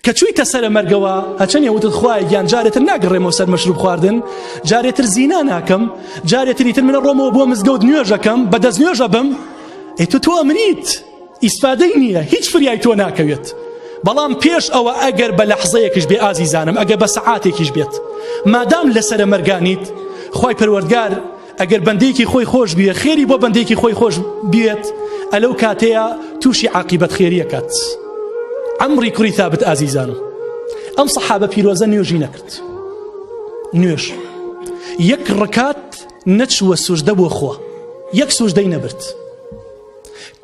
کە چوویتە سەرە مەرگەوە هەچەنێ وتت خوای گیان جارێتر ناگەڕێمەوە سەر مەشروب خواردن جارێتر زینا ناکەم جارێتری تر منە ڕۆمەوە بۆ مزگەوت نوێژەکەم بە دەست نوێژە بم ئێ تو تۆ ئەمریت ئیسفادەی نییە هیچ فریای تۆ ناکەوێت بەڵام پێش ئەوە ئەگەر بە لەحزەیەکیش بێ ئازیزانم ئەگە بە سەعاتێکیش بێت مادام لەسرە مەرگانیت خی پەروەردگار ئەگەر بەندێکی خۆی خۆش بیە خێری بۆ بەندێکی خۆی خۆش بێت ئەلەو کاتەیە تووشی عقیبەت خێریەکەت ئەمڕی کوری تابت ئازیزان ئەم سەحابە پیرۆزە نوێژی نەکرد نوێژ یەک ڕکات نەچووە سوژدە بۆ خۆ یەک سوژدەی نەبرد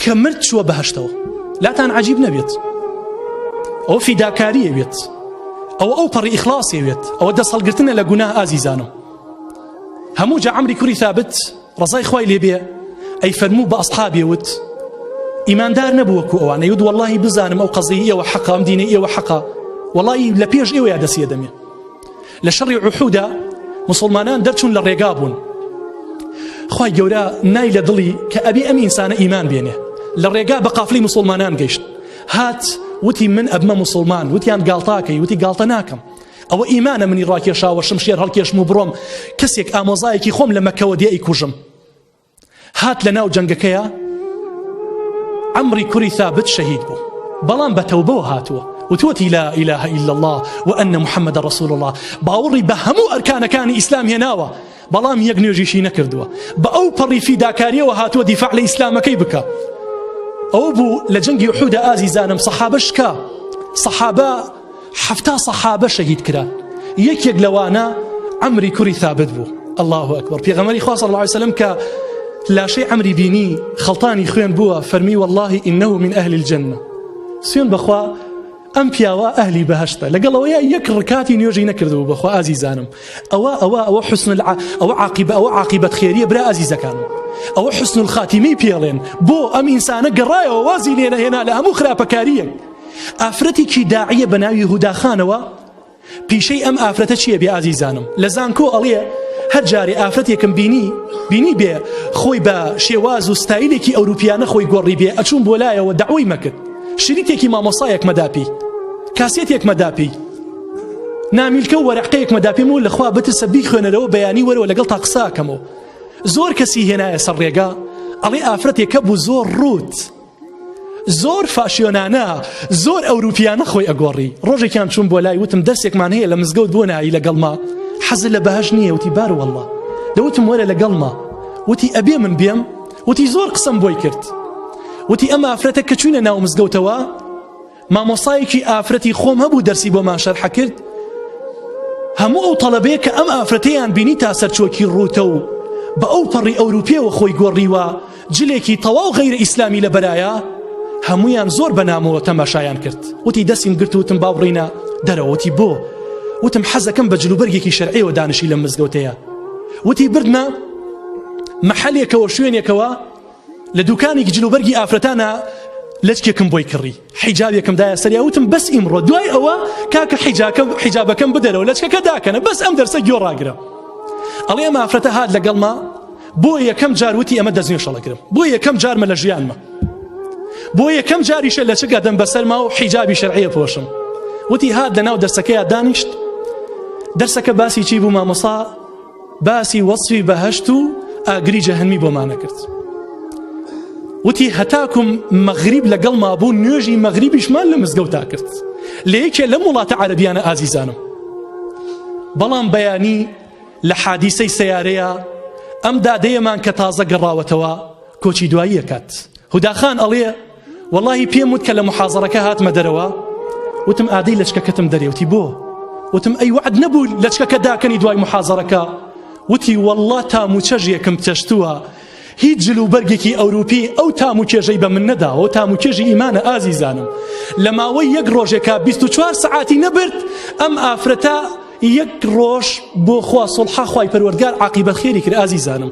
کە مرد چووە بەهشتەوە لاتان عجیب نەبێت ئەو فیداکاریە بێت ئەو ئەو پەڕی ئیخلاصێ بێت ئەوە دەست هەڵگرتنە لە گوناه ئازیزانم هەموو جا ئەمری کوری ثابت ڕزای خی لێبێ ئەی فەرموو بە ئەسحابێ وت ئیماندار نەبووەکو ئەوانە یود واللهی بزانم ئەو قەزی ئەوە حەقام دینە ئێوە حەقا وڵی لە پێش ئێوەیە دەسیە دەمێ لە شەڕی عحودا مسلمانان دەرچوون لە ڕێگا بوون خی گەورە نای لە دڵی کە ئەبی ئەم ئینسانە ئیمان بێنێ لە ڕێگا بە قافلی مسلمانان گەیشت هات وتی من ئەبمە مسلمان وتیان گاڵتاکەی وتی گاڵتە ناکەم ئەوە ئیمانە منی ڕاکێشاوە شمشێر هەڵکێشم و بڕۆم کەسێک ئامۆزایەکی خۆم لە مەکەوە دێ ئەیکوژم هات لە ناو جەنگەکەیە عەمری کوری ثابت شەهید بوو بەڵام بە تەوبەوە هاتووە وتوەتی لا إله إلا الله وأن محمد رسول الله باوەڕی بە هەموو ئەرکانەکانی ئیسلام هێناوە بەڵام یەک نوێژیشی نەکردووە بە ئەو پەڕی فیداکاریەوە هاتووە دیفاع لە ئیسلامەکەی بکە ئەو بوو لە جەنگی حودا ئازیزانم سەحابە شکا سەحابە حەفتا سەحابە شەهید کران یەکێک لەوانە ئەمری کوری ثابت بوو الله ئەکبەر پێغەمەری خوا صلی الله عليه وسلم کە لاشەی ئەمری بینی خەڵتانی خوێن بووە فەرمی واللهی ئینه من ئەهل الجنە سوێن بەخوا ئەم پیاوە ئەهلی بەهشتە لەگەڵەوەیە یەک ڕکاتی نوێژی نەکردبوو بەخوا ئازیزانم ئەوە ئەوە ئەوە حسن ئەوە عقیب ئەوە عقیبەت خێریە برا ئازیزەکانم ئەوە حسن الخاتیمی پێڵێن بۆ ئەم ئینسانە گەڕایەوە وازی لێنەهێنا لە هەموو خراپەکاریە ئافرەتیکی داعیە بە ناوی هوداخانەوە پیشەی ئەم ئافرەتە چییە بێ ئازیزانم لە زانکۆ ئەڵێ هەر جارێ ئافرەتێکم بینی بینی بێ خۆی بە شێواز و ستایلێکی ئەوروپیانە خۆی گۆڕی بێ ئەچوون بۆ لایەوە داوای مەکرد شریتێکی مامۆسایەک مەداپی کاسێتێک مەداپی نامیلکە و وەرەقەیەک مەداپیم و لەخوا بترسە بیخوێنەرەوە بەیانی وەرەوە لەگەڵ تا قساکەمەوە زۆر کەسی هێنایە سەر ڕێگا ئەڵێ ئافرەتێکە بوو زۆر ڕوت زۆر فاشیۆنانە زۆر ئەوروپیانە خۆی ئەگۆڕی ڕۆژێکیان چوون بۆ لای وتم دەرسێکمان هەیە لە مزگەوت بۆ نایی لەگەڵما حەزل لە بەهش نییە وتی بار والله دەوتم وەرە لەگەڵما وتی ئەبێ من بێم وتی زۆر قسم بۆی کرد وتی ئەمە ئافرەتە کە چوینە ناو مزگەوتەوە مامۆستایەکی ئافرەتی خۆم هەبوو دەرسی بۆمان شەرح کرد هەموو ئەو تەڵەبەیە کە ئەم ئافرەتەیان بینی تا سەرچۆکی ڕووتە و بە ئەو پەڕی ئەوروپیەوە خۆی گۆڕیوە جلێکی تەواو غیرە ئیسلامی لە بەرایە هەمویان زۆر بەنامەوە تەماشایان کرد وتی دەستیم گرت وتم باوڕینە دەرەوەتی بۆ وتم حەزەکەم بە جلوبەرگێکی شەرعەوە دانشی لە مزگەوتەیە وتی بردمە محلێکەوە شوێنێکەوە لە دوکانێکی جل و بەرگی ئافرەتانە لەچکێکم بۆی کڕی حیجابێکم دایە سەریا وتم بەس ئیمڕۆ دوای ئەوە کاکە حیجاکە حیجابەکەم بدەرەوە لەچکەکە داکەنە بەس ئەم دەرسە گۆ ڕاگرە ئەڵێ ئەم ئافرەتە هاات لەگەڵما بۆ یەکەم جار وتی ئەمە دەستنی شەڵەگرم بۆ یەکەم جارمە لە ژیانمە بۆ یەکەم جاریشە لە چگە دەم بەسەرما و حیجابی شەرعەیە پۆشم وتی هاات لە ناو دەرسەکەی دانیشت دەرسەکە باسی چی بوو مامۆسا باسی وەسفی بەهەشت و ئاگری جەهەنمی بۆمانە کرد وتی هەتاکم مەغریب لەگەڵ مابوو نوێژی مەغریبیشمان لە مزگەوتا کرد لە یەکێ لەم وڵاتە عەربیانە ئازیزانم بەڵام بەیانی لە حادیسەی سیارەیە ئەم دادەیەمان کە تازە گەڕاوەتەوە کۆچی دواییەکات هوداخان ئەڵێ وەڵاهی پێم وت کە لە محازەڕەکە هاتمە دەرەوە وتم ئادەی لەچکەکەتم دەرێوتی بۆ وتم ئەی وعد نەبوو لەچکەکە داکەنی دوای محازەڕەکە وتی والله تام و چەژێکم چەشتووە هیچ جل و بەرگێکی ئەوروپی ئەو تام و کێژەی بە من نەداەوە تام و کێژی ئیمانە ئازیزانم لە ماوەی یەک ڕۆژێکا 24 سعاتی نەبرد ئەم ئافرەتە یەک ڕۆژ بۆ خوا سڵحاخوای پەروەردگار عقیبە خێری کرد ئازیزانم